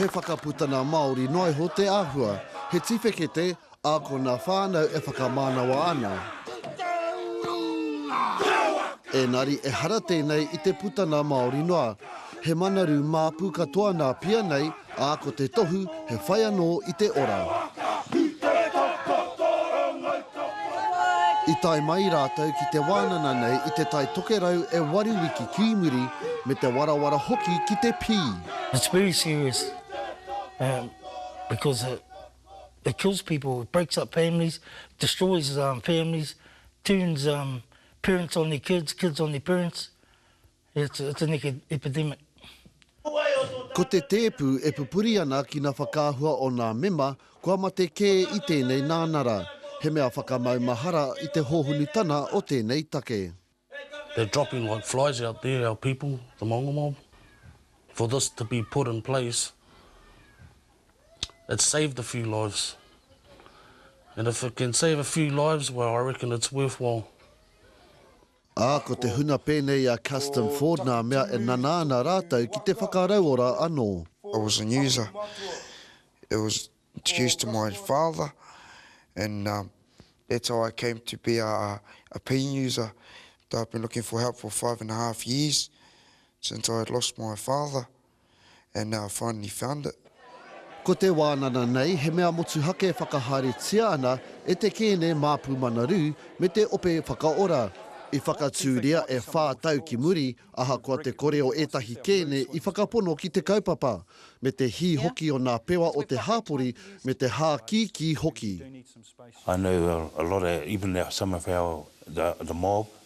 He whakaputanga Māori noa iho te āhua, he tiwhekete ākona whānau e whakamānawa ana. Ēngari ehara tēnei i te putanga Māori noa, he manaru māpu katoa nā pia nei, ā, ko te tohu he whai anō i te ora. I tae mai rātou ki te wānana nei i te Tai Tokerau e waru wiki ki muri, me te warawara hoki ki te pī. It's very serious um because it it kills people, it breaks up families, destroys um families, turns um parents on their kids, kids on their parents, It's it's an epidemic. Ko te tēpu e pupuri ana ki na whakaahua o nā mema kua mate kē i tēnei nānara, he mea whakamaumahara i te hōhunutana o tēnei take. They're dropping like flies out there, our people, the Maunga mob. For this to be put in place, it's saved a few lives. And if it can save a few lives, well, I reckon it's worthwhile. Ā, ko te hunga pēnei a Custom Ford ngā mea e nana ana rātou ki te whakarauora anō. I was an user, it was introduced to my father and that's how I came to be a pain user, I've been looking for help for five and a half years since I lost my father. and now I finally found it. Ko te wānana nei he mea motuhake e whakahaeretia ana e te kēne mā Pūmanaru me te ope whakaora. I whakatūria e whā tau ki muri, ahakoa te kore o ētahi kēne i whakapono ki te kaupapa, me te hī hoki o nā pewa o te hāpori me te hākīkī hoki. I know a lot of even some of our the the mob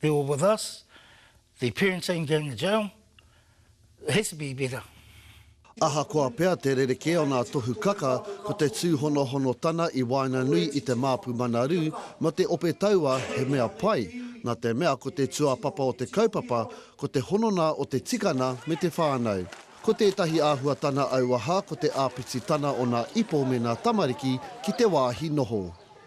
They were with us, their parents ain't going to jail, it has to be better. Ahakoa pea te rerekē o ngā tohu kaka, ko te tūhonohono tana i waenganui i te māpu mana rū mō te ope taua he mea pai, nā te mea ko te tuapapa o te kaupapa ko te hononga o te tikana me te whānau. Ko tētahi āhuatana auaha ko te āpititana o ngā ipo me ngā tamariki ki te wāhi noho.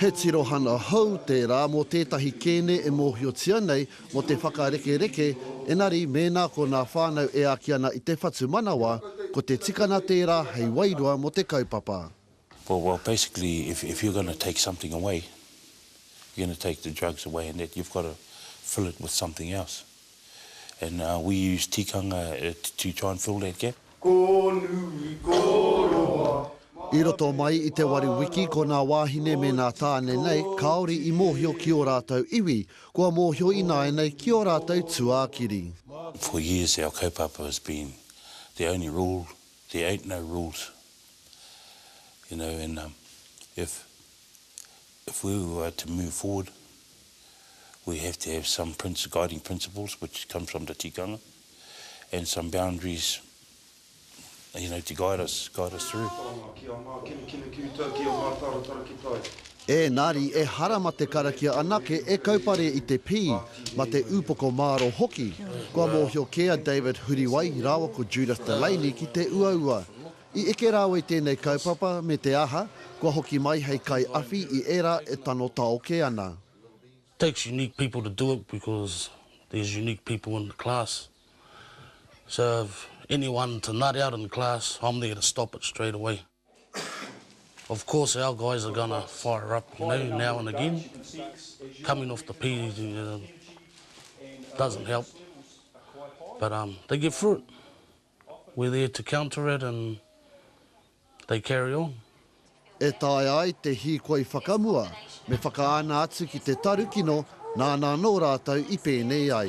He tirohanga hou tērā mō tētahi kēne e mōhiotia nei mō te whakarekereke, engari mēnā ko ngā whānau e āki ana i te whatumanawa, ko te tikanga tērā hei wairua mō te kaupapa. Well well basically if if you're going to take something away you're going to take the drugs away and that you've got to fill it with something else. and we use tikanga to try and fill that gap. Ko nui, ko roa, mā. I roto mai i te waru wiki ko nā wāhine me nā tāne nei kāore i mōhio ki ō rātou iwi, kua mōhio ināianei ki ō rātou tuākiri. For years our kaupapa has been the only rule, there ain't no rules, you know, and if if we were to move forward, we have to have some guiding principles which comes from the tikanga and some boundaries you know, to guide us, guide us through. Whānau, ki a Mā, Kinukinu, ki uta, ki a Mātāratara, ki tai. Ēngari ehara ma te karakia anake e kaupare i te pī, ma te upoko māro hoki. Kua mōhio kē a David Huriwai rāua ko Judith Delaney ki te uaua. I eke rāwai tēnei kaupapa me te aha, kua hoki mai hei kaiawhi i ērā e tano taoke ana. Takes unique people to do it because there's unique people in the class so if anyone to nut out in class I'm there to stop it straight away of course our guys are gonna fire up you know now and again coming off the pd doesn't help but um they get through it. We're there to counter it and they carry on. E taea ai te hīkoi whakamua me whakaana atu ki te tarukino nāna anō rātou i pēnei ai.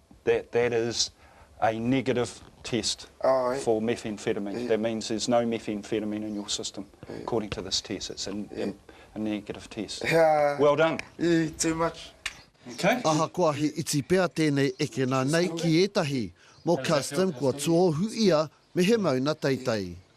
That that is a negative test Aye. for methamphetamine. Yeah. That means there's no methamphetamine in your system, yeah. according to this test. It's a, yeah. a, a negative test. Yeah. Well done. Yeah, too much. Okay. Ahakoa he iti pea tēnei ekena nei ki ētahi, mō Custom kua tuohu ia me he mauna teitei.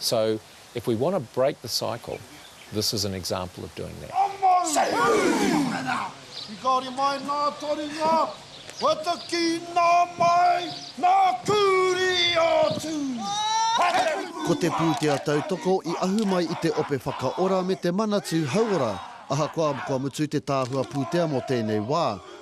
So, if we want to break the cycle, this is an example of doing that. Ki kaore mai nā taringa, whataki nā mai, nā kūri atu. Ko te pūtea tautoko i ahu mai i te Ope Whakaora me te Manatū Hauora. Ahakoa kua mutu te tāhua pūtea mō tēnei wā,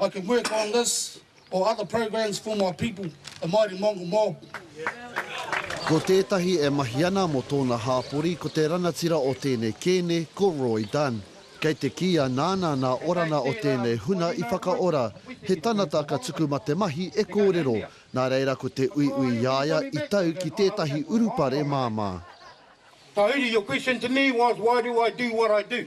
I can work on this or other programs for my people, the Māori Mongol mob. Ko tētahi e mahi ana mō tōna hāpori ko te rangatira o tēnei kēne ko Roy Dunn. Kei te kīia nāna nā Orana o tēnei huna i whakaora, he tanata ka tuku ma te mahi e kōrero, nā reira ko te uiui i a ia i tau ki tētahi urupare māmā. Tahuri, your question to me was why do I do what I do?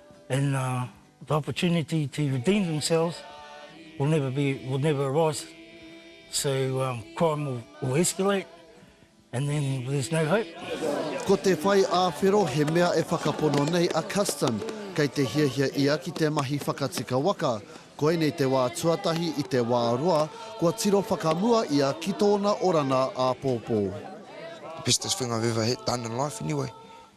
and the opportunity to redeem themselves will never be, will never arise, so crime will escalate and then there's no hope. Ko te whai āwhero he mea e whakapono nei a Custon, kei te hiahia ia ki te mahi whakatika waka. Koinei te wā tuatahi i te wā roa kua tiro whakamua ia ki tōna oranga āpōpō. The best thing I've ever done in life anyway,